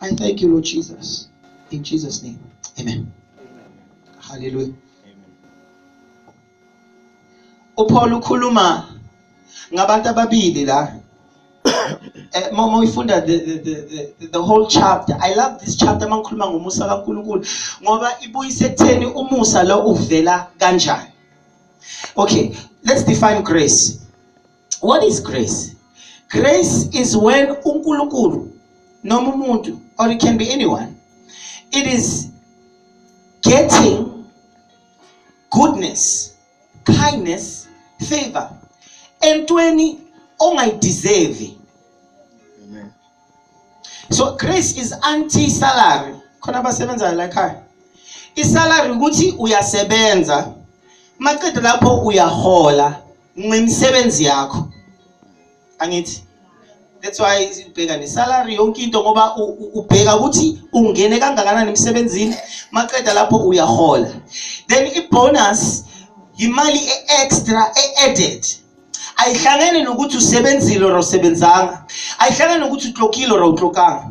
I thank you, Lord Jesus. In Jesus' name. Amen. Amen. Hallelujah. uPaul ukhuluma ngabantu ababili la eh, mama uyifunda the, the, the, the whole chapter i love this chapter uma ngikhuluma ngomusa kaNkulunkulu ngoba ibuyise ekutheni umusa lo uvela kanjani okay let's define grace what is grace grace is when uNkulunkulu noma umuntu or it can be anyone it is getting goodness kindness favor entweni ongayideserve so grace is anti salary khona abasebenzayo la ekhaya isalary ukuthi uyasebenza maqede lapho uyahola ngemisebenzi yakho angithi that's why ubheka nesalary yonke into ngoba ubheka ukuthi ungene kangakanani emsebenzini maqeda lapho uyahola then ibonus yimali e-extra e-added ayihlangene nokuthi usebenzile or usebenzanga ayihlangene nokuthi utlokile or awutlokanga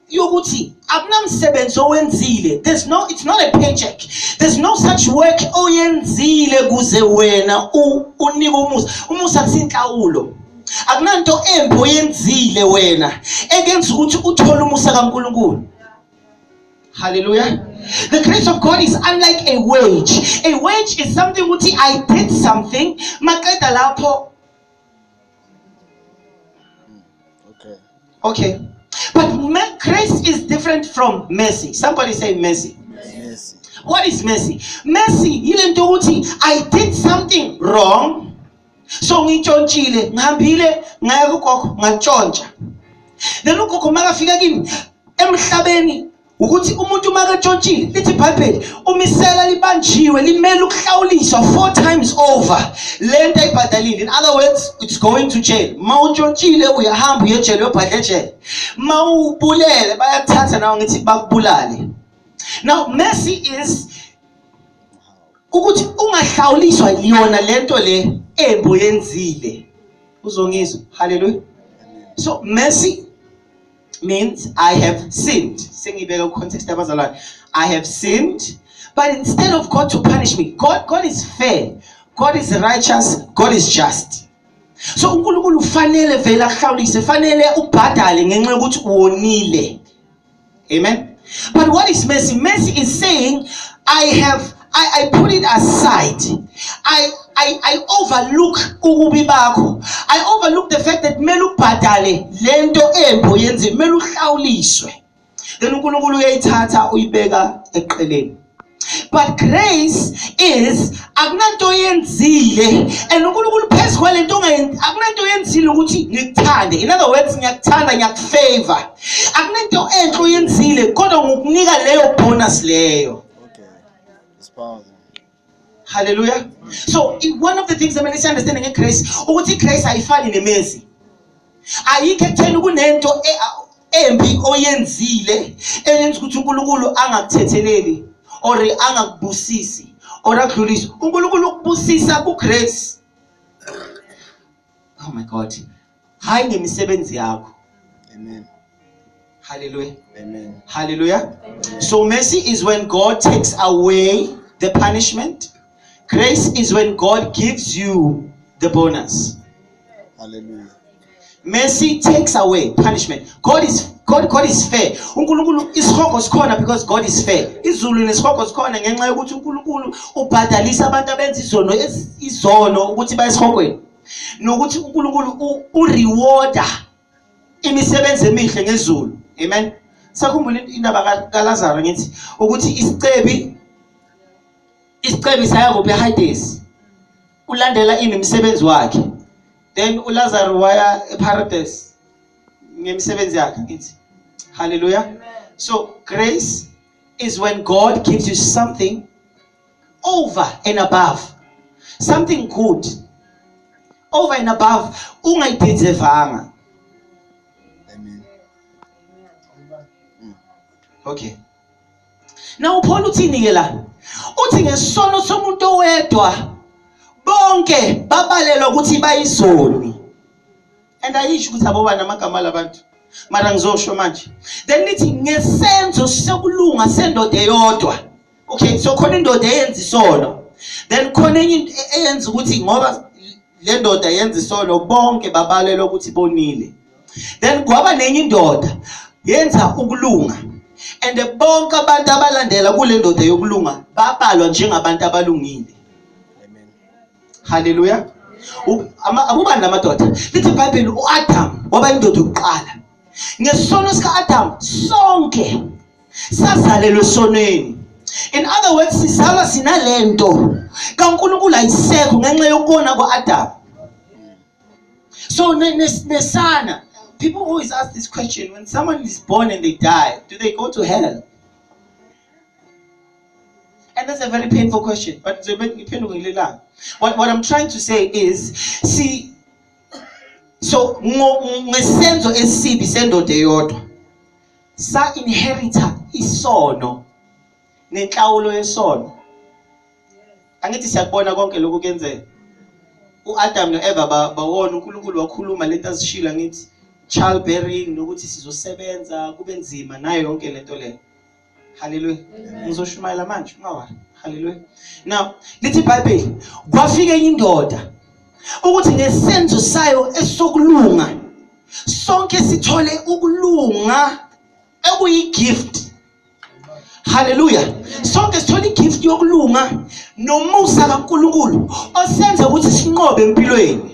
yokuthi akunamsebenzi owenzile there's no it's not a paycheck there's no such work oyenzile kuze wena unike umusa umusa kusinhlawulo akunanto embi oyenzile wena ekenza ukuthi uthole umusa kaNkuluNkulu Hallelujah. The grace of God is unlike a wage. A wage is something ukuthi I did something maqeda lapho Okay. Okay. But grace is different from mercy. Somebody say mercy. Mercy. What is mercy? Mercy yile nto ukuthi I did something wrong. So ngitshontshile, ngihambile ngaya kugogo ngantshontsha. Then ugogo makafika kimi emhlabeni ukuthi umuntu uma ketshontshile lithi ibhayibheli umisela libanjiwe limele ukuhlawuliswa four times over le nto ayibhadalile in other words it's going to jail ma utshontshile uyahamba uyejele uyobhadla ejele ma ubulele bayakuthatha nawe ngithi bakubulale now mercy is ukuthi ungahlawuliswa yona le nto le embo yenzile uzongizwa haleluya so mercy means I have sinned. Sengibeka context abazalwane. I have sinned. But instead of God to punish me, God, God is fair. God is righteous. God is just. So uNkulunkulu ufanele vele ahlawulise, fanele ubhadale ngenxa yokuthi uwonile. Amen. But what is mercy? Mercy is saying I have I, I put it aside. I, I, I overlook ububi bakho. I overlook the fact that kumele ubhadale lento embi oyenze, kumele uhlawuliswe. Then uNkulunkulu uyayithatha uyibeka eqeleni. But grace is akunanto yenzile and uNkulunkulu phezu kwalento akunanto yenzile ukuthi ngikuthande. In other words ngiyakuthanda ngiyakufavor. Akunanto enhle oyenzile kodwa ngokunika leyo bonus leyo. Hallelujah. So one of the things that must understand in Christ, ukuthi Christ ayifani nemezi. Ayikho ekutheni kunento e, embi oyenzile eyenza ukuthi uNkulunkulu angakuthetheleli or angakubusisi or akudlulise. uNkulunkulu ukubusisa kuGrace. Oh my God. hayi ngemisebenzi yakho amen hallelujah amen hallelujah amen. so mercy is when god takes away the punishment grace is when god gives you the bonus hallelujah mercy takes away punishment god is God, God is fair unkulunkulu isihogo sikhona because god is fair izulu nesihogo sikhona ngenxa yokuthi unkulunkulu ubhadalisa abantu abenza izono izono ukuthi bayesihogweni nokuthi uNkulunkulu urewarda imisebenzi emihle ngezulu amen sakhumbula indaba kaLazaro ngithi ukuthi isicebi isicebi saya kuphi eHades ulandela ini umsebenzi wakhe then uLazaro waya eParadise ngemisebenzi yakhe ngithi hallelujah so grace is when God gives you something over and above something good over and above ungayiphizevanga amen mm. okay na upholo uthini ke la uthi ngesono somuntu owedwa bonke babalelwa ukuthi bayizoni and ayisho ukuthi abobani amagama labantu mara ngizosho manje then lithi ngesenzo sokulunga sendoda eyodwa okay so khona indoda eyenza isono then khona enye into e-, eyenza ukuthi ngoba le ndoda yenza isono bonke babalelwa ukuthi bonile then kwaba nenye indoda yenza ukulunga and bonke abantu abalandela kule ndoda yokulunga babalwa njengabantu abalungile haleluya abubani la madoda lithi ibhayibheli u-adamu waba indoda yokuqala ngesono sika-adamu sonke sazalelwe sonweni in other words sizalwa sinalento kaNkulunkulu ayisekho ngenxa yokona kwaAdam so nesana people always ask this question when someone is born and they die do they go to hell And that's a very painful question. But what, what I'm trying to say is, see, so ngesenzo esibi sendoda eyodwa sa inherita isono nenhlawulo yesono angithi siyakubona konke lokhu kuyenzeka uAdam noEva bawona uNkulunkulu wakhuluma lento azishilo angithi childbearing nokuthi sizosebenza kube nzima nayo yonke lento leyo haleluya ngizoshumayela manje ungawari haleluya now lithi ibhayibheli kwafika enye indoda ukuthi ngesenzo sayo esokulunga sonke sithole ukulunga ekuyigift haleluya sonke sithole igift yokulunga nomusa kaNkuluNkulu osenza ukuthi sinqobe empilweni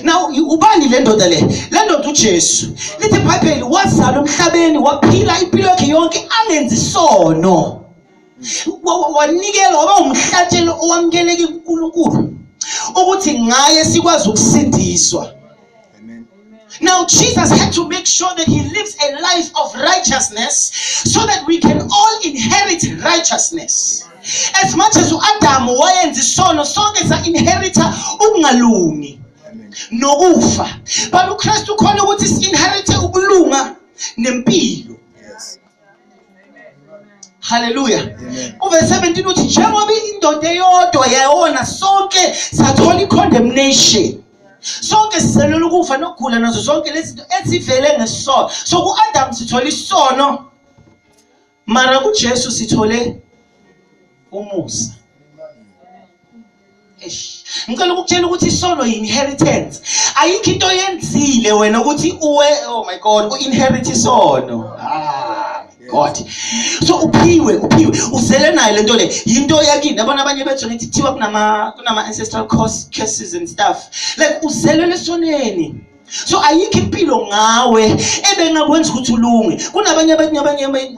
now ubani le ndoda le le ndoda ujesu lithi ibhayibheli wazala emhlabeni waphila impilo yakhe yonke angenzi sono wanikela waba umhlatshelo owamukeleke kunkulunkulu ukuthi ngaye sikwazi ukusindiswa Amen. Now, Jesus had to make sure that he lives a life of righteousness so that we can all inherit righteousness. As much as uAdam wayenza isono sonke sa inherita ukungalungi nokufa. But uKristu khona ukuthi si inherite ukulunga nempilo. haleluya uve 17 uthi njengoba indoda eyodwa yayona sonke sathola i-condemnation sonke siselula ukufa nokugula nazo zonke lezi zinto ezivele ngesono so ku-adamu sithola isono mara kujesu sithole umusa ngicela ukukutshela ukuthi isono yi-inheritance ayikho into oyenzile wena ukuthi uwe oh my god u-inherit isono ah god so uphiwe uphiwe uzele nayo lento le yinto yakini yabona abanye bethu ngithi thiwa kunama kunama ancestral curse curses and stuff like uzele lesoneni so ayikho impilo ngawe ebengakwenza ukuthi ulunge kunabanye abanye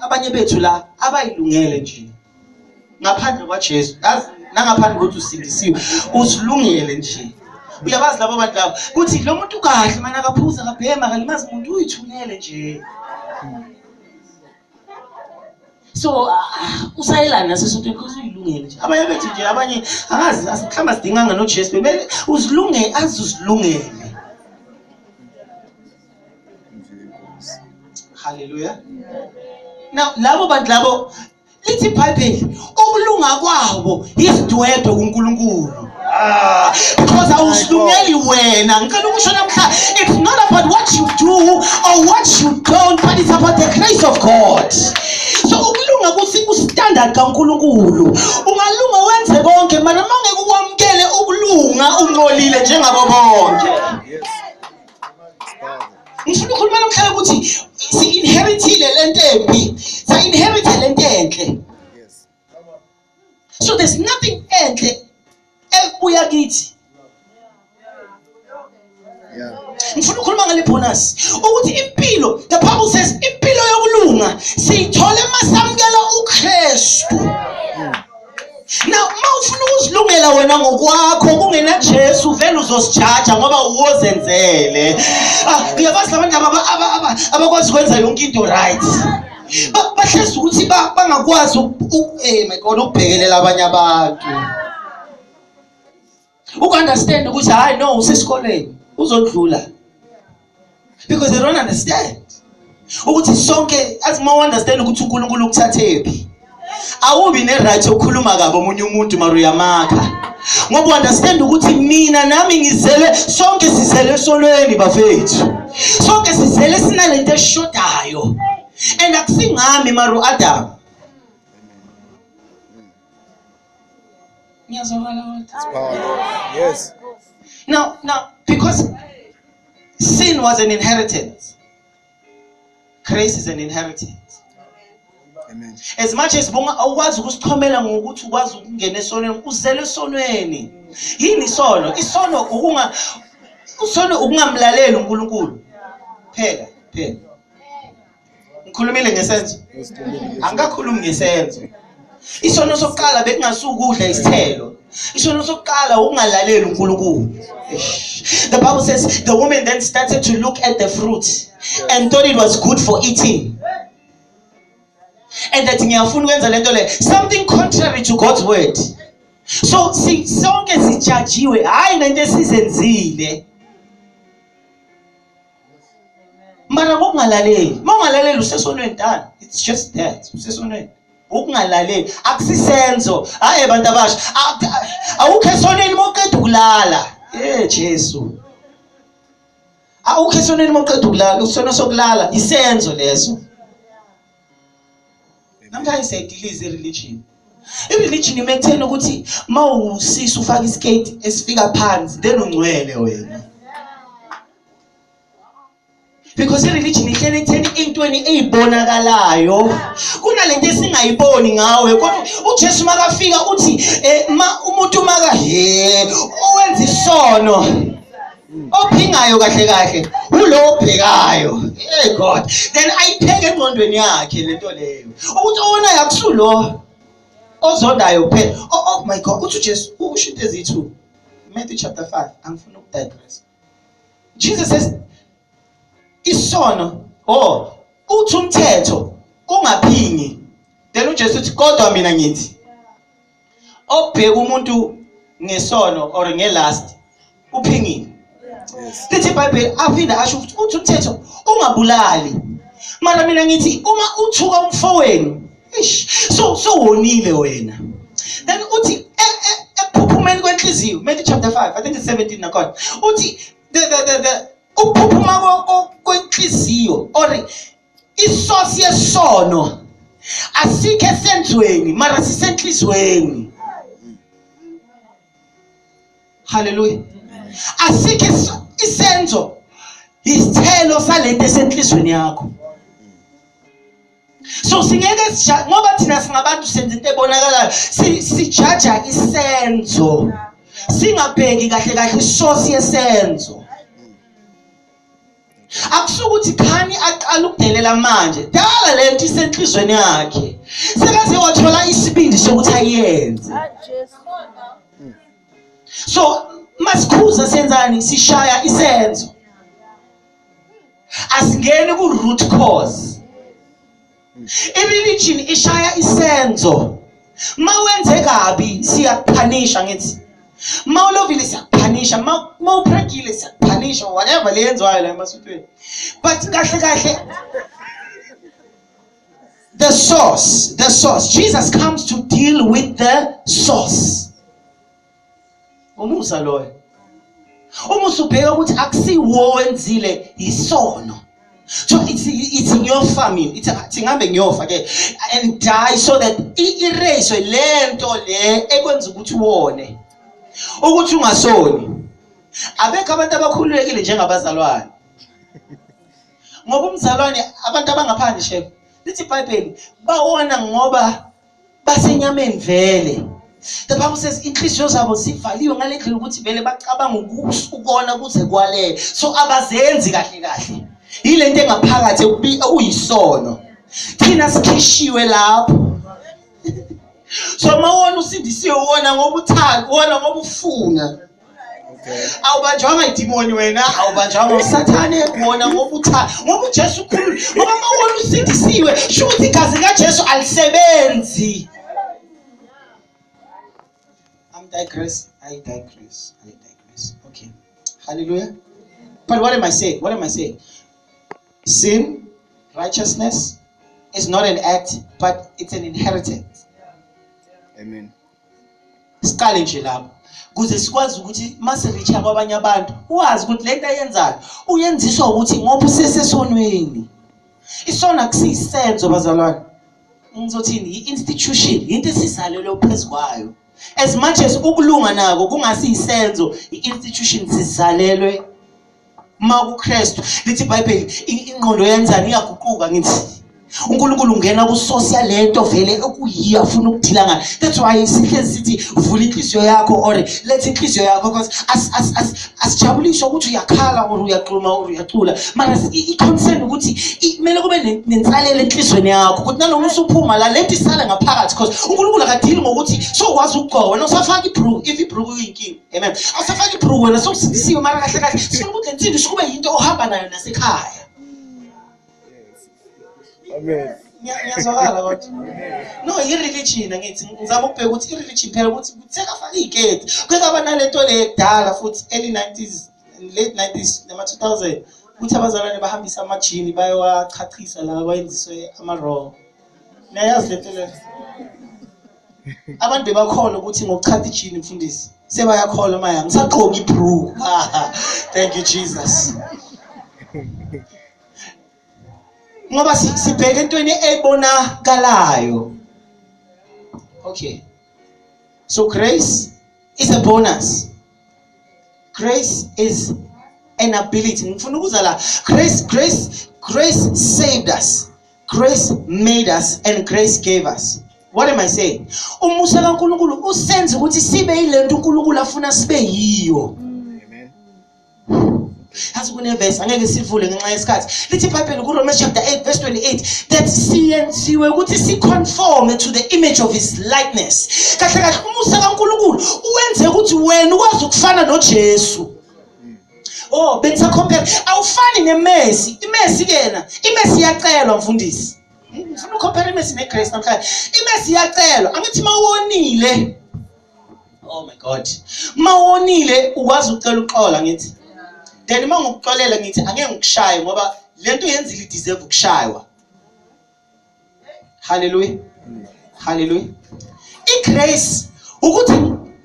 abanye bethu la abayilungele nje ngaphandle kwaJesu yazi nangaphandle kokuthi usindisiwe uzilungele nje uyabazi labo bantu labo kuthi lo muntu kahle mani akaphuza akabhema akalimazi muntu uyithunele nje so usayelana nasesotweni because uyilungele nje abanye bethu nje abanye akazi mhlawumbe asidinganga nojesu bebele uzilungele azi uzilungele haleluya now labo bantu labo lithi ibhayibheli ukulunga kwabo yisidwedwe kunkulunkulu ah, because awusilungeli wena ngicela ukusho namhla it's not about what you do or what you don't but it's about the grace of god so ukulunga kusistandard kankulunkulu ungalunga wenze konke mara uma ngeke ukwamukele ukulunga uncolile njengabo bonke yes. ngifuna ukhuluma namhlanje ukuthi si-inherithile le nto embi sa-inherithe le nto enhle so there's nothing enhle ebuya kithi ngifuna ukhuluma ngale bonus ukuthi impilo the bible says impilo yokulunga siyithola uma samukela ukristu yeah. Now uma ufuna ukuzilungela wena ngokwakho kungena Jesu vele uzosijaja ngoba uwozenzele. Ah, uyabazi labantu aba abakwazi ukwenza yonke into right. Bahlezi ukuthi bangakwazi eh my God ukubhekelela abanye abantu. uku-understand ukuthi hhayi no usesikoleni uzodlula because they don't understand ukuthi sonke athi uma u-understand ukuthi unkulunkulu ukuthathephi awubi ne-right yokukhuluma kabi omunye umuntu mara uyamakha ngoba u-understand ukuthi mina nami ngizele sonke sizele esonweni bafethu sonke sizele sinale nto eshodayo and akusingami mara u-adamu Yes. Now, now, because sin was an inheritance, grace is an inheritance. Amen. As much as bonga awukwazi ukusichomela ngokuthi ukwazi ukungena esonweni, uzele esonweni. Yini isono? Isono ukunga usono ukungamlaleli uNkulunkulu. Phela, phela. ngikhulumile ngesenzo angikakhulumi ngesenzo isono sokuqala bekungasuwukudla isithelo isono sokuqala ukungalaleli unkulunkulu the bible says the woman then started to look at the fruit and thought it was good for eating and that ngiyafuna ukwenza le nto le something contrary to god's word so sonke sijajiwe hhayi ngento esizenzile mara ngokungalaleli uma ungalaleli usesonweni tani it's just that usesonweni ukungalaleli akusisenzo hayi abantu abasha awukho esonweni uma uqeda ukulala ye jesu awukho esonweni uma uqeda ukulala usona sokulala isenzo leso namhlanje siyayidiliza ireligion ireligion ime ekutheni ukuthi uma usisi ufake iskate esifika phansi then ungcwele wena because ireligion ihlele ekutheni ey'ntweni ey'bonakalayo kunalento esingayiboni ngawe kodwa ujesu makafika uthi um umuntu maka he owenza isono ophingayo kahle kahle ulo obhekayo hey god then ayipheke engqondweni yakhe lento leyo ukuthi owona yakusulo ozondayo kuphela oh, oh my god uthi uJesu usho into ezithu Matthew chapter 5 angifuni ukudigress Jesus says isono oh uthi umthetho ungaphingi then uJesu uthi kodwa mina ngithi obheka umuntu ngesono or ngelast uphingile lithi ibhayibheli aphinde asho ukuthi uthi umthetho ungabulali mara mina ngithi uma uthuka umfowenu ish so sowonile wena then uthi e, e, ekuphuphumeni kwenhliziyo Matthew chapter 5 i think it's 17 nakhona uthi the the the, the ukuphuphuma kwenhliziyo or isosi yesono asikho esenzweni mara sisenhlizweni haleluya asikho isenzo isithelo salento esenhlizweni yakho so singeke ngoba thina singabantu senza into ebonakalayo sijaja isenzo singabheki kahle kahle isosi yesenzo akusuke ukuthi khani aqala ukudelela manje dala le nto isenhlizweni yakhe sekaze wathola isibindi sokuthi ayenze so masikhuza senzani sishaya isenzo asingeni ku-root cause I-religion ishaya isenzo. Mawenze kabi siyakuphanisha ngithi. Mawulovile siyakuphanisha, mawuphrekile siyakuphanisha whatever leyenziwayo la emasutweni. But kahle kahle the source, the source. Jesus comes to deal with the source. umusa loyo uma usubheka ukuthi akusiwo wenzile yisono so ithi ithi ngiyofa mina ithi athi ngihambe ngiyofa ke and die so that i-erase lento le ekwenza ukuthi uwone ukuthi ungasoni abekho abantu abakhululekile njengabazalwane ngoba umzalwane abantu abangaphandle shebo lithi ibhayibheli bawona ngoba basenyameni vele the bible says inhliziyo zabo zivaliwe ngale ndlela ukuthi vele bacabanga ukona kuze kwalele so abazenzi kahle kahle yile nto engaphakathi uyisono thina sikhishiwe lapho so mawona usindisiwe wona ngoba uthanda wona ngoba ufuna awubanjwanga idimoni wena awubanjwanga usathane wona ngoba utha ngoba ujesu ukhulu ngoba uma wona usindisiwe sho ukuthi igazi likajesu alisebenzi I'm digress. I digress. I digress. Okay. Hallelujah. But what am I saying? What am I saying? Sin, righteousness is not an act, but it's an inheritance. Amen. siqale nje lapho kuze sikwazi ukuthi mase reacha kwabanye abantu wazi ukuthi lento ayenzayo uyenziswa ukuthi ngoba usesesonweni isona kusisenzo bazalwane ngizothini i-institution into esizalelwe phezu kwayo as much as ukulunga nako kungasiyisenzo i-institution sizalelwe uma kuKristu lithi iBhayibheli ingqondo yenzani iyaguquka ngithi uNkulunkulu ungena kusource yalento vele okuyiyo afuna ukudila ngayo that's why sihlezi sithi vula inhliziyo yakho or letha inhliziyo yakho because asijabuliswa ukuthi uyakhala or uyaqhuma or uyacula mara i-concern ukuthi kumele kube nensalela enhliziyweni yakho ukuthi nanoma usuphuma la lento isale ngaphakathi because uNkulunkulu akadili ngokuthi sokwazi ukugqoka wena usafaka ibrook if ibrook uyinkinga Amen. Awusafaka ibhruku wena sewusindisiwe mara kahle kahle sifuna ukuthi lensimbi sikube yinto ohamba nayo nasekhaya. Amen. Ngiya- Ngiyazwakala kodwa. No, i-religion angithi ngizama ukubheka ukuthi i-religion phela ukuthi kutheka faka igate. Kuke aba nalento le kudala futhi early 90s late 90s nama 2000 ukuthi abazalwane bahambisa amajini bayowachachisa la kwayenziswe ama-raw. Niyayazi lento le? abantu bebakhona ukuthi ngokuchapha ijini mfundisi sebayakhola maya ngisaqoka ibru thank you jesus ngoba sibheke entweni ebonakalayo okay so grace is a bonus grace is an ability ngifuna ukuza la grace grace grace saved us grace made us and grace gave us what am i saying umusa kaNkulunkulu usenza ukuthi sibe yilento uNkulunkulu afuna sibe yiyo mm. Yazi kunevesi angeke sivule ngenxa yesikhathi. Lithi iBhayibheli kuRomans chapter 8 verse 28 that siyenziwe ukuthi siconforme to the image of his likeness. Kahle kahle umusa kaNkulunkulu uwenze ukuthi wena ukwazi ukufana noJesu. Oh, benza compare. Awufani neMessi. IMessi kena, iMessi iyacelwa mfundisi. Ngifuna ucompare iMessi neGrace namhlanje. IMessi iyacelwa. Angithi mawonile oh my god mawonile ukwazi ucela uxola ngithi then uma ngokuxolela ngithi angeke ngikushaye ngoba lento yenzile ideserve ukushaywa haleluya haleluya igrace ukuthi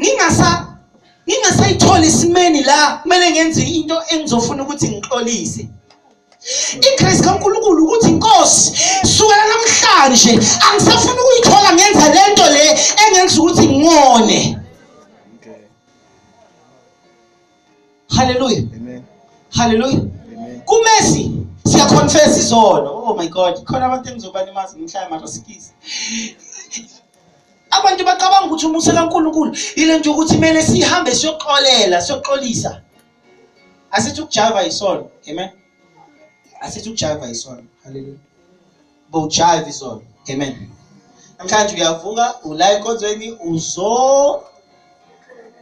ngingasa ngingasayithola isimeni la kumele ngenze into engizofuna ukuthi ngixolise igrace kaNkulunkulu ukuthi inkosi sukela namhlanje angisafuni ukuyithola ngenza lento le engenza ukuthi ngone haleluya haleluya kumesi siyaconfess izono oh my god khona abantu engizobalimaza ngimhlaya mara sikisi abantu bacabanga ukuthi umusa kaNkulunkulu ile nje ukuthi kumele sihambe siyoxolela siyoxolisa asithi ukujaiva isono amen asithi ukujaiva isono haleluya bowujaiva isono amen namhlanje uyavuka ula enkonzweni uzo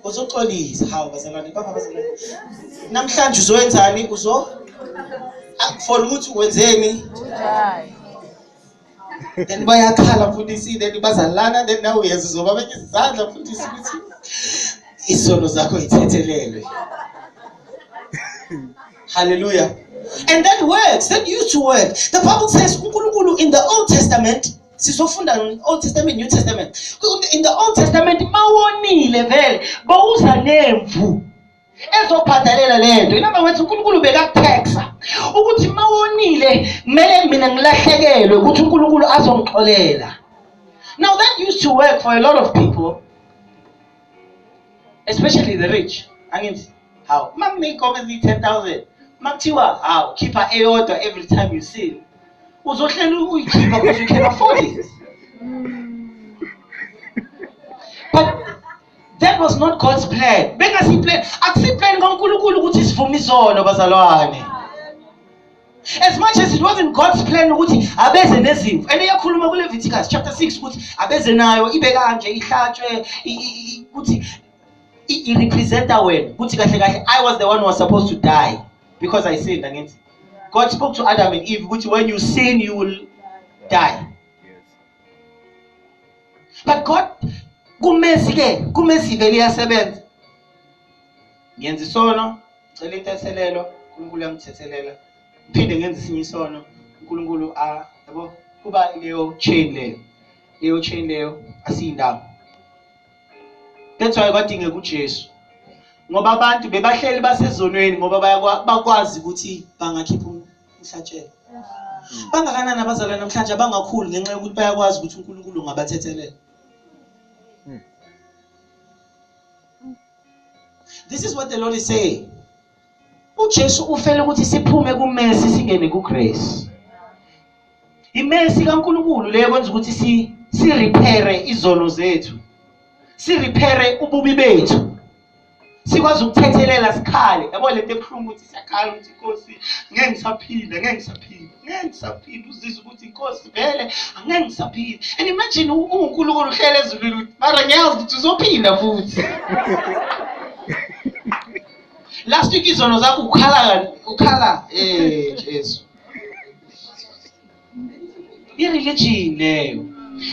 uzoxolisa hawu bazalwane baba bazalwane namhlanje uzoyenzani uzo akufona ukuthi wenzeni then bayakhala mfundisi then bazalana then nawe uyenza uzoba benye izandla mfundisi ukuthi isono zakho ithethelelwe hallelujah and that works that used to work the bible says unkulunkulu in the old testament sizofunda old testament new testament in the old testament mawonile vele bawuza nemvu ezobhadalela lento inamba wethi uNkulunkulu bekakuthexa ukuthi mawonile kumele mina ngilahlekelwe ukuthi uNkulunkulu azongixolela now that used to work for a lot of people especially the rich angithi how mamneyigome eziyi-10000 makuthiwa hawu khipha eyodwa every time you see uzohlela uyikhipha because you can afford it but That was not God's plan. Bengasi plan. Akusi plan kaNkulunkulu ukuthi sivume izono bazalwane. As much as it wasn't God's plan ukuthi abeze nezimvu. And iyakhuluma ku Leviticus chapter 6 ukuthi abeze nayo ibe kanje ihlatshwe ukuthi i representa wena ukuthi kahle kahle I was the one who was supposed to die because I sinned against God spoke to Adam and Eve ukuthi when you sin you will die. but god kumesi ke kumesi vele iyasebenza ngenza isono ngicela inteselelo unkulunkulu yangithethelela ngiphinde ngenza isinye isono unkulunkulu a yabo kuba leyo chain leyo leyo chain leyo asiyindawo that's why kwadingeka uJesu ngoba abantu bebahleli basezonweni ngoba bakwazi ukuthi bangakhipha ihlatshelo hmm. bangakanani abazalwane namhlanje abangakhulu ngenxa yokuthi bayakwazi ukuthi unkulunkulu ungabathethelela hmm. this is what the lord is saying ujesu ufele ukuthi siphume kumesi singene kugrace imesi kankulunkulu leyo kwenza ukuthi si sirephere izono zethu sirephere ububi bethu sikwazi ukuthethelela sikhale yabo lento ebuhlungu ukuthi siyakhala ukuthi inkosi ngeke ngisaphila ngeke ngisaphila ngeke ngisaphila uzizwa ukuthi inkosi vele angeke ngisaphila and imagine uwunkulunkulu uhlele ezulwini ukuthi mara ngiyazi ukuthi uzophila futhi last week izono zakho ukhala ukhala eh jesu i-religion leyo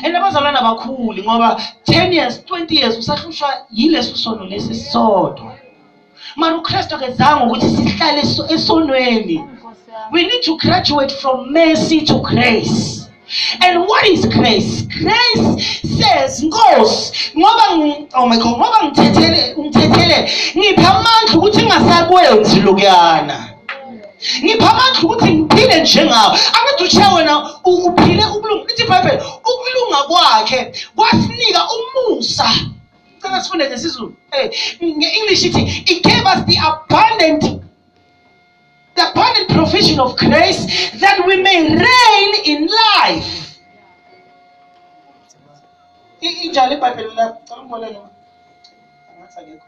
and abazalwane abakhuli ngoba 10 years 20 years usahlushwa yileso sono lesi sisodwa mara ukristu akezanga ukuthi sihlale esonweni we need to graduate from mercy to grace and what is grace grace says nkosi ngoba oh my god ngoba ngithethele ngithethele ngipha amandla ukuthi ngingasakwenzi lokuyana ngipha amandla ukuthi ngiphile njengawo angithi uthiya wena uphile ukulunga ithi ibhayibheli ukulunga kwakhe kwasinika umusa cela sifunde ngesizulu eh, nge-english ithi it gave us the abundant the abundant provision of grace that we may reign in life injalo ibhayibheli lakho cela umboleke ngathi akekho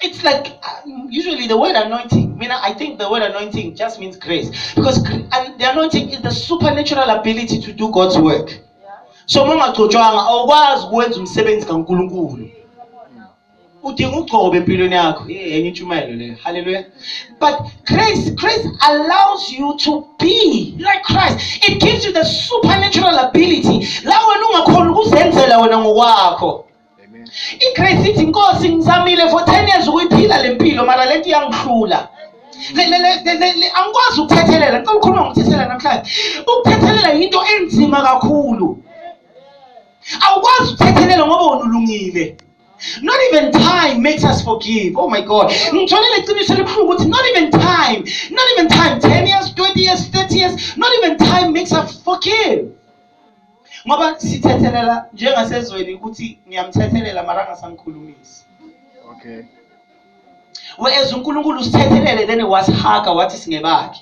It's like uh, usually the word anointing. I mean, I think the word anointing just means grace because and the anointing is the supernatural ability to do God's work. So uma ungagcotshwanga awukwazi ukwenza umsebenzi kaNkulunkulu. udinga ugcobe empilweni yakho enye intshumayelo leyo hallelujah but grace grace allows you to be like christ it gives you the supernatural ability la wena ungakhona ukuzenzela wena ngokwakho igrace ithi nkosi ngizamile for ten years ukuyiphila le mpilo mara le nto iyangihlula angikwazi ukuthethelela ngicela ukhuluma ngokuthethelela namhlanje ukuthethelela yinto enzima kakhulu awukwazi ukuthethelela ngoba wona ulungile Not even time makes us forgive. Oh my God. Ngitholile iqiniso elibuhlungu ukuthi not even time, not even time, 10 years, 20 years, 30 years, not even time makes us forgive. ngoba sithethelela njengasezweni ukuthi ngiyamthethelela mara angasangikhulumisi okay whereas unkulunkulu usithethelele then wasihaga wathi singebakhe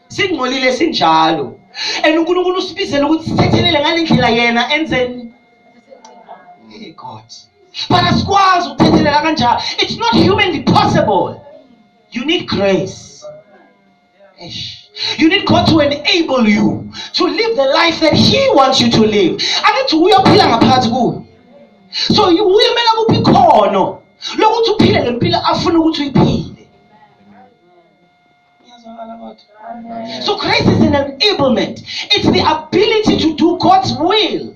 singcolile sinjalo and unkulunkulu usibizela ukuthi sithethelele ngale ndlela yena enze hey god but asikwazi ukuthethelela kanjalo it's not humanly possible you need grace You need God to enable you to live the life that He wants you to live. Angithi uyophila ngaphakathi kuwe. So uyemela kuphi ikhono lokuthi uphile le mpilo afuna ukuthi uyiphile. So Christ is an enablement. It's the ability to do God's will.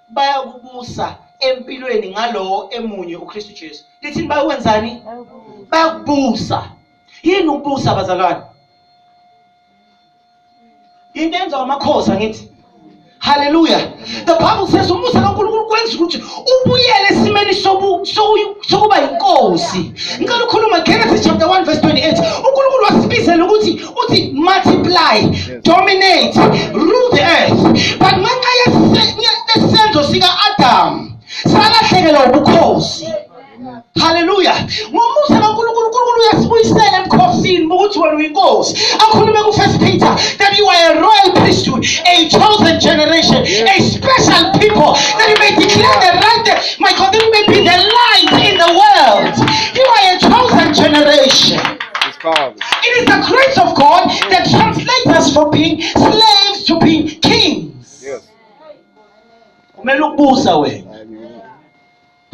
bayakubusa empilweni ngalowo emunye uKristu Jesu lithini bayokwenzani bayakubusa yini ukubusa bazalwane into enza amakhosi angithi haleluya the bible says umusa kankulunkulu kwenza ukuthi ubuyele esimeni sokuba yinkosi ngicela ukhuluma genesis chapter 1 verse 28 unkulunkulu wasibizela ukuthi ukuthi multiply dominate rule the earth but ngenxa yesenzo sika-adamu salahlekelwa ubukhosi haleluya ngomusa kankulunkulu unkulunkulu uyasibuyisela ebukhosini bokuthi wena uyinkosi akhulume kufirst peter that you are a royal priesthood a chosen generation a special people that you may declare the right my god that you may be the light in the world you are a chosen generation It is the grace of God that translates us from being slaves to being kings. Yes. Kumele ukubusa wena.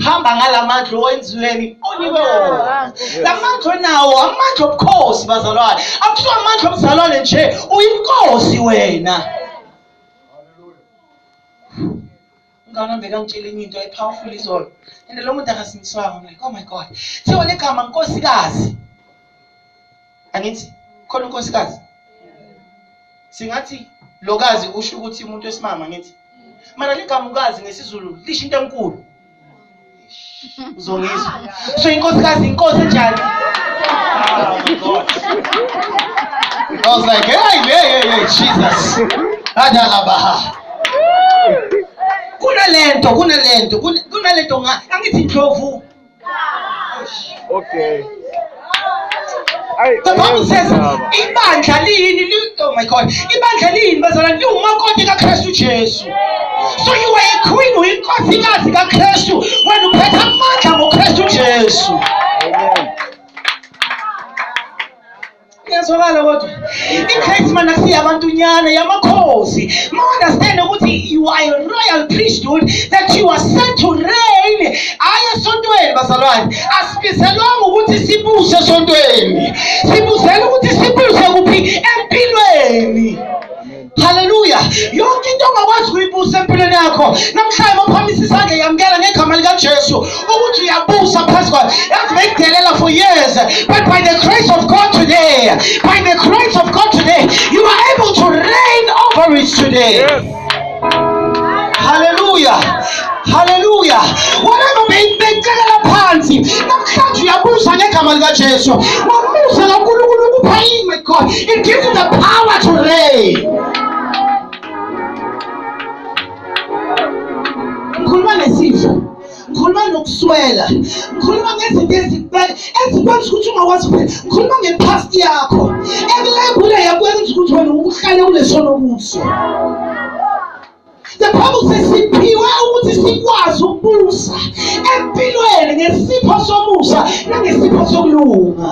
Hamba ngalamandla owenziweni onikwe wona. Lamandla onawo amandla obukhosi bazalwane. Akusiwa amandla omzalwane nje, uyinkosi wena. umngane wami bekangitshela enye into epowerful izolo and lo muntu akasindiswanga I'm like oh my god thiwa legama nkosikazi angithi khona unkosikazi singathi lokazi usho ukuthi umuntu wesimama ngithi mara ligamukazi ngesizulu lisho into enkulu uzongizwa so inkosikazi inkosi enjani I was like, hey, hey, hey, hey, Jesus. Adalabaha. Kunalento, kunalento, kunalento nga angithi ndlovu. Okay. The Bible says ibandla liyini li- oh my god ibandla liyini bazalwane liwumakoti kakristu jesu so you are a queen uyinkosikazi kakristu wena uphethe amandla ngokristu jesu iyazwakala kodwa igrace mana siya abantunyana yamakhosi ma-understand ukuthi you are a royal priesthood that you are sent to reign hhayi esontweni bazalwane As- Sibizelwanga ukuthi sibuse esontweni, sibuzela ukuthi sibuse kuphi empilweni. Haleluya! Yonke into ongakwazi kuyibusa empilweni yakho namhlanje mophamisa isandla yamukela ngegama likaJesu ukuthi uyabusa phezu kwayo. Yazi bekudelela for years but by the grace of God today, by the grace of God today, you are able to reign over it today. Yes. haleluya haleluya whatever beyibecelela phansi namhlanje uyabuza ngegama likajesu wamuza kankulunkulu ukupha yini with god it gives you the power to reign ngikhuluma nesizwe ngikhuluma nokuswela ngikhuluma ngezinto ezikubeka ezikwenza ukuthi ungakwazi kuphila ngikhuluma ngepast yakho ekulebule yakwenza ukuthi wena uhlale ulesono kuso the bible says siphiwe ukuthi sikwazi ukubusa empilweni ngesipho somusa nangesipho sokulunga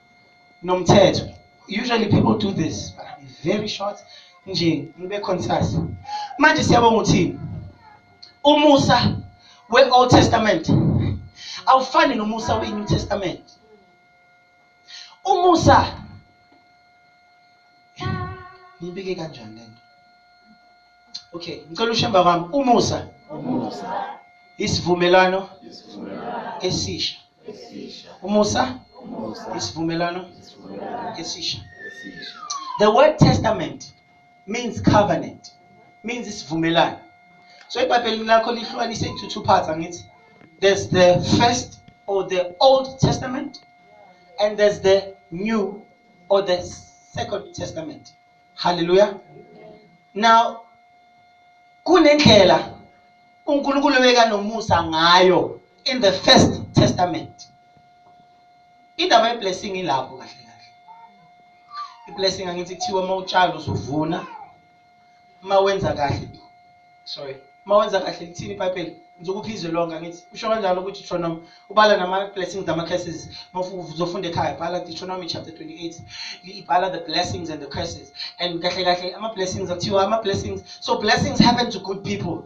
nomthetho usually people do this but I'm very short nje ngibe concise manje siyabonga uthini umusa we-old testament awufani nomusa we-new testament umusa ngibike kanjani lento okay ngicela ushemba kwami umusa isivumelwano esisha Umusa? Isivumelwano? Esisha. The word testament means covenant, means isivumelwano. So iBhayibheli lakho lihlukanise into two parts angithi. There's the first or the Old Testament and there's the New or the Second Testament. Hallelujah. Now kunendlela uNkulunkulu ebeka nomusa ngayo in the first testament. Indaba ye blessing ilapho kahle kahle. I blessing angithi kuthiwa uma utshala uzovuna uma wenza kahle sorry uma wenza kahle lithini ibhayibheli ngizokupha izwe lonke angithi usho kanjalo ukuthi deuteronomy ubala nama-blessings nama-curses uzofunda ekhaya bhala deuteronomy chapter 28 ibhala the blessings and the curses and kahle kahle ama-blessings akuthiwa ama-blessings so blessings happen to good people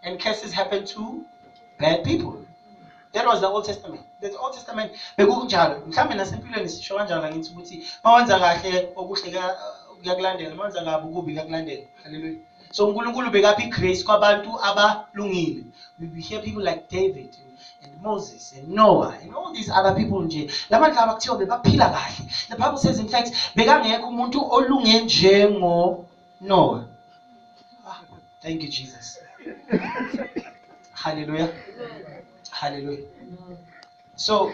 and curses happen to bad people that was the old testament the old testament bekunjalo mhlawumbe nasempilweni sisho kanjalo angithi ukuthi uma wenza kahle okuhle kuyakulandela uma wenza kabi ukubi kuyakulandela Hallelujah. So uNkulunkulu bekapha igrace kwabantu abalungile. We will hear people like David and Moses and Noah and all these other people nje. Labantu laba kuthiwa bebaphila kahle. The Bible says in fact bekangekho umuntu olunge njengo Noah. Ah, thank you Jesus. Hallelujah. Hallelujah. So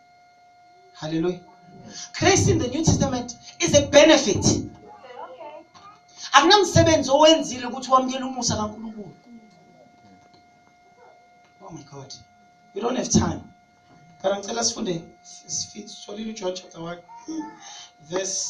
Hallelujah. Grace in the New Testament is a benefit. Akunamsebenzi owenzile ukuthi wamukele umusa kaNkulunkulu. Oh my God. We don't have time. But ngicela sifunde sitholile uJohn chapter 1 verse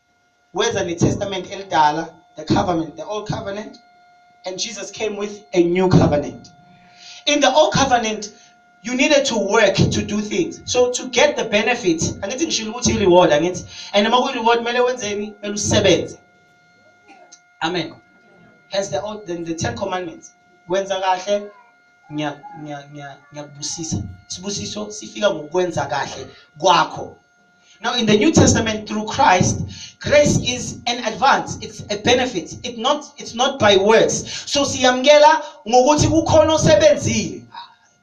weza netestament elidala the covenant the old covenant and jesus came with a new covenant in the old covenant you needed to work to do things so to get the benefit angithi ngishilo ukuthi i-reward angithi and uma kuyi-reward kumele wenzeni kumele usebenze amen hence the, old, the, the ten commandments wenza kahle ngiyakubusisa sibusiso sifika ngokwenza kahle kwakho Now, in the New Testament, through Christ, grace is an advance. It's a benefit. It's not, it's not by works. So siyamkela ngokuthi kukhona osebenzile.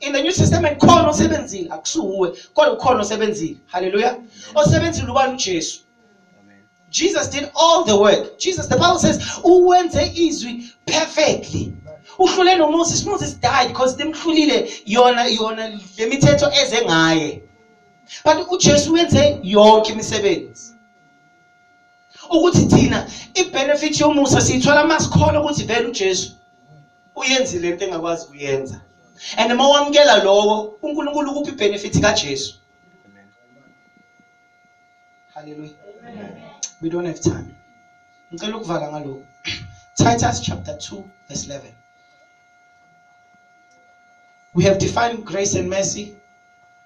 In the New Testament, khona osebenzile. Akusuwe, kodwa ukhona osebenzile. Hallelujah. Osebenzile ubani uJesu. Jesus did all the work. Jesus, the Bible says, uwenze izwi perfectly. Uhlule noMoses. Moses died because demhlulile yona yona lemithetho eze ngaye. but uJesu wenze yonke imisebenzi ukuthi thina ibenefit yomusa siyithola masikhona ukuthi vele uJesu uyenzile into engakwazi kuyenza and uma wamukela lowo uNkulunkulu ukuphi ibenefit kaJesu haleluya we don't have time ngicela ukuvala ngalokho Titus chapter 2 verse 11 We have defined grace and mercy.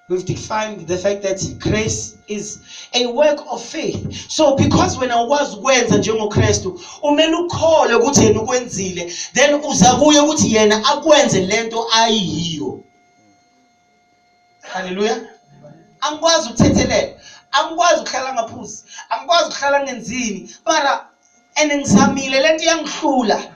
We've defined the fact that grace is a work of faith. So because when I was ukwenza njengoKristu, umele ukhole ukuthi yena ukwenzile, then uza kuye ukuthi yena akwenze lento ayiyo. Hallelujah. Angikwazi ukuthethelela. Angikwazi ukuhlala ngaphuzi. Angikwazi ukuhlala ngenzini. Mara and ngizamile lento iyangihlula.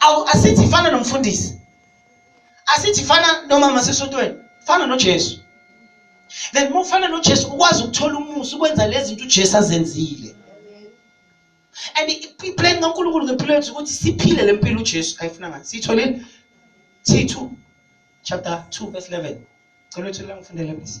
awu asithi fana nomfundisi asithi fana nomama sesontweni fana noJesu then uma ufana noJesu ukwazi ukuthola umusa ukwenza lezi zinto uJesu azenzile and iplan kaNkulunkulu ngempilo yethu ukuthi siphile le mpilo uJesu ayifuna ngathi siyitholile T2 chapter 2 verse 11 cela uthula ngifundele please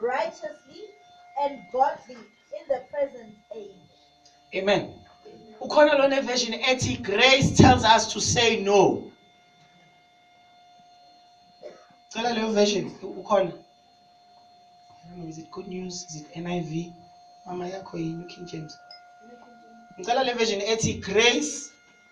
righteously and godly in the present age. Amen. Ukhona lona version ethi grace tells us to say no. Cela leyo version ukhona. I don't know is it good news is it NIV mama yakho yini King James. Ngicela le version ethi grace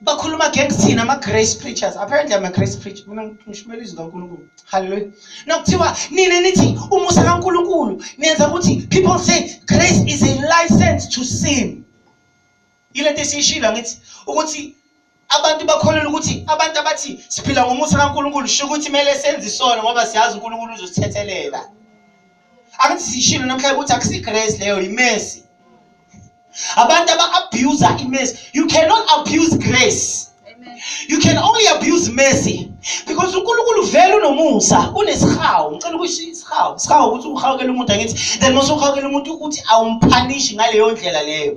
bakhuluma against thina ama-grace preachers apparently i'm a grace preacher mina ngishumela izwi kankulunkulu halleluya nokuthiwa nina nithi umusa kankulunkulu nenza ukuthi people say grace is a license to sin yile nto esiyishilo angithi ukuthi abantu bakholelwa ukuthi abantu abathi siphila ngomusa kankulunkulu sho ukuthi kumele senze isono ngoba siyazi unkulunkulu uzosithethelela angithi sishilo namhlanje ukuthi akusigrace leyo yimesi abantu aba-abusa imesi you cannot abuse grace you can only abuse mercy because unkulunkulu vele unomusa unesihawu ngicela ukusho isihawu isihawu ukuthi uhawukela umuntu angithi then mase uhawukela umuntu ukuthi awumphanishi ngaleyo ndlela leyo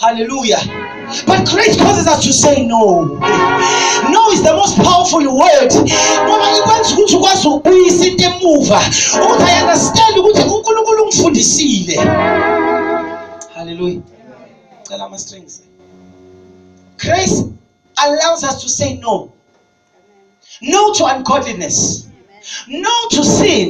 Hallelujah. But grace causes us to say no. No is the most powerful word. Ngoba ikwenza ukuthi ukwazi ukubuyisa into emuva. Ukuthi I understand ukuthi uNkulunkulu ungifundisile. Hallelujah. Cela ama strings. Grace allows us to say no. no to ungodliness no to sin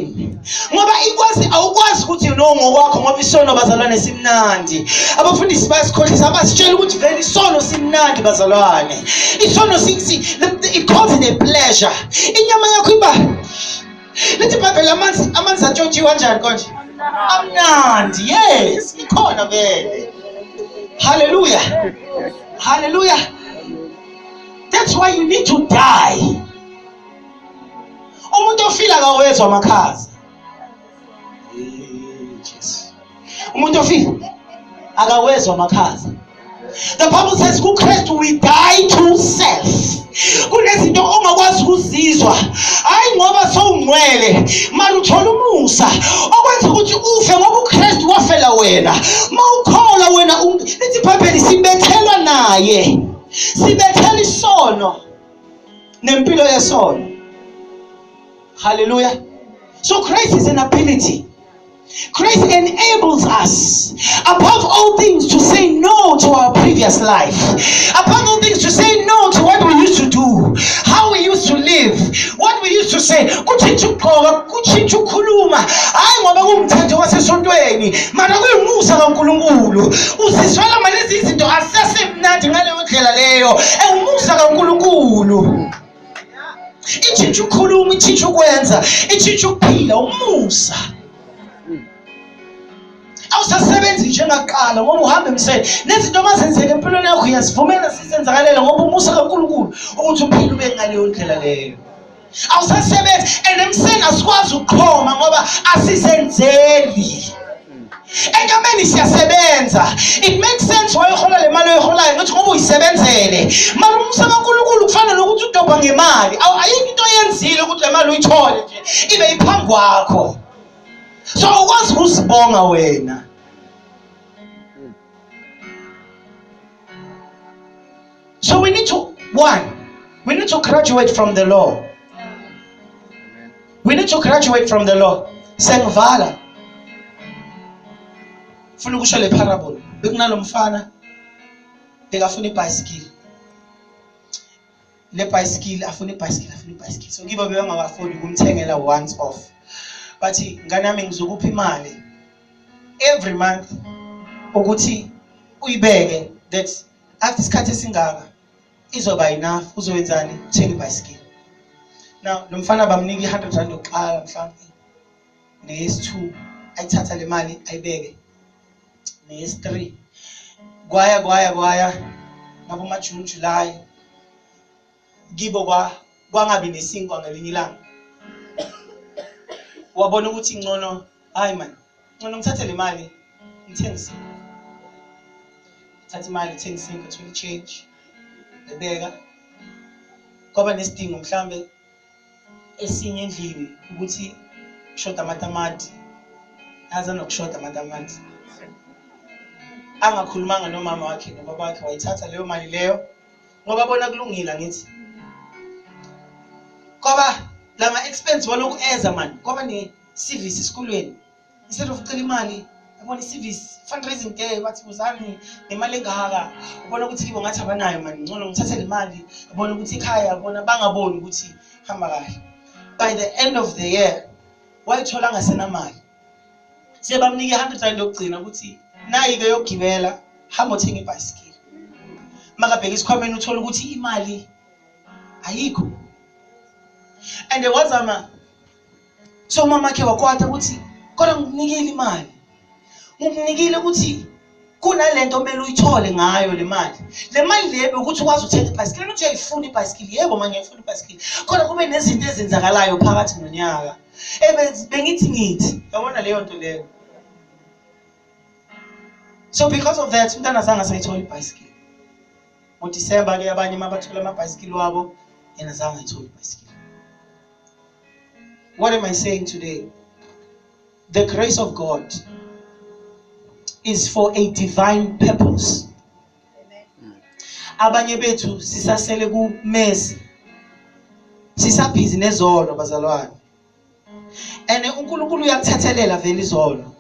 ngoba ikwazi awukwazi ukuthi no ngokwakho ngoba isono bazalwane simnandi abafundisi bayasikhohlisa abasitshela ukuthi vele isono simnandi bazalwane isono it causes a pleasure inyama yakho iba lithi ibhayibheli amanzi amanzi atshontshiwe kanjani konje amnandi yes ikhona vele haleluya haleluya that's why you need to die umuntu ofila kawezwa amakhaza umuntu ofila akawezwa amakhaza the bible says kukristu we die to self kunezinto ongakwazi ukuzizwa hayi ngoba sowungcwele mara uthola umusa okwenza ukuthi ufe ngoba ukristu wafela wena ma ukholwa wena lithi ibhayibheli sibethelwa naye sibethela isono nempilo yesono haleluya so grace is an ability Grace enables us, above all things, to say no to our previous life. Above all things, to say no to what we used to do, how we used to live, what we used to say. Kutshintsha ukugqoka, kutshintsha ukukhuluma. Hayi ngoba kuwumthetho wasesontweni, mana kuyumusa kaNkulunkulu. Usizwela manje izinto asese mnandi ngaleyo ndlela leyo ewumusa kaNkulunkulu ithintsha ukukhuluma ithintsha ukwenza ithintsha ukuphila umusa awusasebenzi njengaqala ngoba uhamba emsele nezinto mazenzeka empilweni yakho uyazivumela sizenzakalele ngoba umusa kaNkulunkulu ukuthi uphile ube ngaleyo ndlela leyo awusasebenzi and emseni asikwazi ukuqhoma ngoba asisenzeli enyameni siyasebenza it makes sense why uhola le mali oyiholayo ngokuthi ngoba uyisebenzele mali umsa kankulunkulu kufana nokuthi udobha ngemali ayikho into oyenzile ukuthi le mali uyithole nje ibe iphambi kwakho so ukwazi ukuzibonga wena So we need to, one, we need to graduate from the law. We need to graduate from the law. Sengivala. Funa ukusho le parable. Bekunalomfana bekafuna ibhayisikili. Le bhayisikili afuna ibhayisikili, afuna ibhayisikili. So kibo bebangawafuni kumthengela once off. Bathi nganami ngizokupha imali every month ukuthi uyibeke that after isikhathi esingaka izoba enough uzoyenzani thenga ibhayisikili now lo mfana bamnika i-hundred rand yokuqala mhlawumbe neyesi-two ayithatha le mali ayibeke neyesi-three kwaya kwaya kwaya ngabomajuni julayi kibo kwangabi nesinkwa ngelinye ilanga wabona ukuthi ngcono hayi mani ngcono ngithathe le mali ngithenge isinkwa thatha imali ngithenge isinkwa thola i-change ngibeka kwaba nesidingo mhlawumbe esinye endlini ukuthi kushoda amatamati aze nokushoda amatamati angakhulumanga nomama wakhe nobaba wakhe wayithatha leyo mali leyo ngoba bona kulungile angithi kwaba lama expense walokhu eza mani kwaba ne service esikolweni instead of cela imali yabona i-service fundraising day bathi buzani nemali engaka ubona ukuthi kibo ngathi abanayo mani ngcono ngithathe le mali ubona ukuthi ikhaya bona bangaboni ukuthi hamba kahle by the end of the year wayithola angasenamali sebamnike i-hundred rand yokugcina ukuthi nayi-ke yokugibela hamba othenga ibhayisikili makabheka isikhwameni uthole ukuthi imali ayikho and wazama so umama khe wakwata ukuthi kodwa ngikunikile imali ngikunikile ukuthi kunalento omele uyithole ngayo le mali le mali le bekuthi ukwazi ukuthenga ibhayisikili nokuthi uyayifuna ibhayisikili yebo manje ngiyifuna ibhayisikili kodwa kube nezinto ezenzakalayo phakathi nonyaka bengithi ngithi yabona leyo nto leyo so because of that umntana zange asayithola ibhayisikili ngodisemba ke abanye uma bathola amabhayisikili wabo yena zange ayithole ibhayisikili What am I saying today? The grace of God is for a divine purpose. Abanye bethu sisasele kumezi. Sisabhizi nezolo bazalwane. And uNkulunkulu uyakuthethelela vele izolo.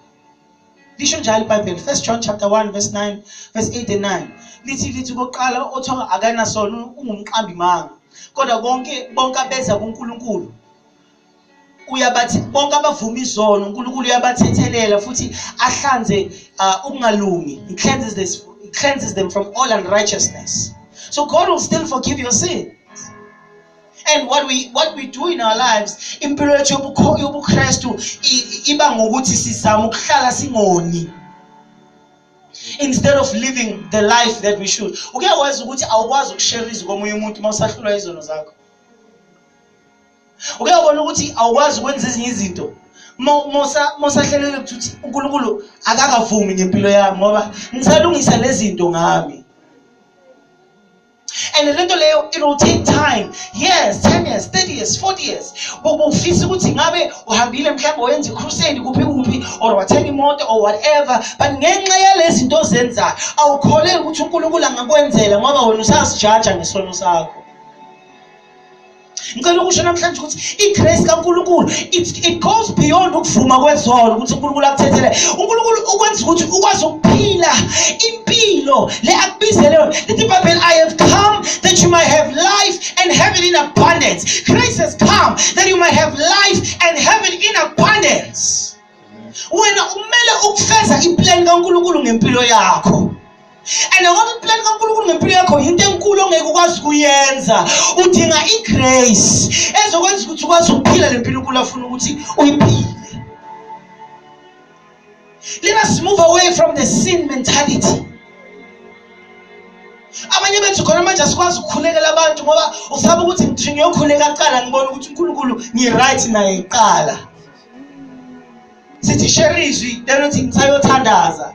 lisho njalo ibhayibheli first john chapter 1 verse 9 verse 8 and 9 lithi lithi kokuqala othiwa akanasono ungumqambi manga kodwa konke bonke abeza kunkulunkulu uyabathi bonke abavuma izono unkulunkulu uyabathethelela futhi ahlanze uh, ukungalungi he cleanses, this, he cleanses them from all unrighteousness so god will still forgive your sin and what we what we do in our lives impilo yethu yobuKristu iba ngokuthi sizama ukuhlala singoni instead of living the life that we should uke wazi ukuthi awukwazi ukushare izwi komunye umuntu uma usahlulwa izono zakho uke wabona ukuthi awukwazi ukwenza ezinye izinto mosahlelele ukuthi uNkulunkulu akakavumi ngempilo yami ngoba ngisalungisa lezi zinto ngami and le nto leyo it will take time years 10 years 30 years 40 years bokufisa ukuthi ngabe uhambile mhlawumbe oyenza icrusade kuphi kuphi or wathenga imoto or whatever but ngenxa yalezi zinto ozenzayo awukholeli ukuthi unkulunkulu angakwenzela ngoba wena usazijaja ngesono sakho ngicela ukusho namhlanje ukuthi igrace kaNkulunkulu it, it goes beyond ukuvuma kwezono ukuthi uNkulunkulu akuthethele uNkulunkulu ukwenza ukuthi ukwazi ukuphila impilo le akubizele yona lithi ibhayibheli i have come that you might have life and have it in abundance grace has come that you might have life and have it in abundance wena umele ukufeza iplan kankulunkulu ngempilo yakho and ngoba iplan kankulunkulu ngempilo yakho yinto enkulu ongeke ukwazi ukuyenza udinga igrace ezokwenza ukuthi ukwazi ukuphila le mpilo unkulu afuna ukuthi uyiphile let us move away from the sin mentality abanye bethu khona manje asikwazi ukukhulekela abantu ngoba usaba ukuthi ngithi ngiyokhuleka kuqala ngibona ukuthi unkulunkulu ngi-right naye kuqala sithi share izwi then uthi ngisayothandaza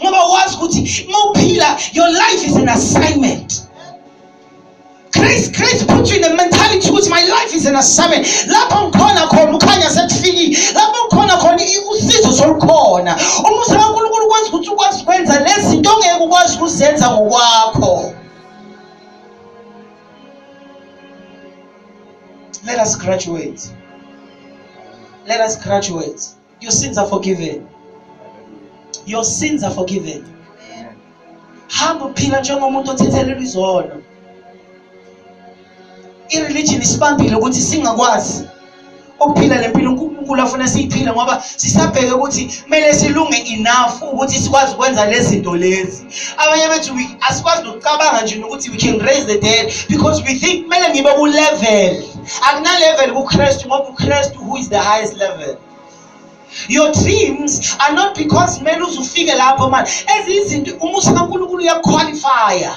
ngoba wazi ukuthi mawuphila your life is an assignment grace grace put you in a mentality ukuthi my life is an assignment lapho ngikhona khona ukhanya sekufikile lapho ngikhona khona usizo solukhona umusa kaNkulunkulu ukwazi ukuthi ukwazi ukwenza lezinto ongeke ukwazi ukuzenza ngokwakho Let us graduate. Let us graduate. Your sins are forgiven. Your sins are forgiven. Hamba uphila njengomuntu othethelelwa izono. I-religion isibambile ukuthi singakwazi ukuphila le mpilo unkulunkulu afuna siyiphile ngoba sisabheke ukuthi kumele silunge enough ukuthi sikwazi ukwenza le zinto lezi abanye bethu asikwazi nokucabanga nje nokuthi we can raise the dead because we think kumele ngibe ku-level akunalevel kukristu ngoba ukristu who is the highest level your dreams are not because kumele uze ufike lapho mani ezinye izinto umusa kankulunkulu uyakukhwalifaya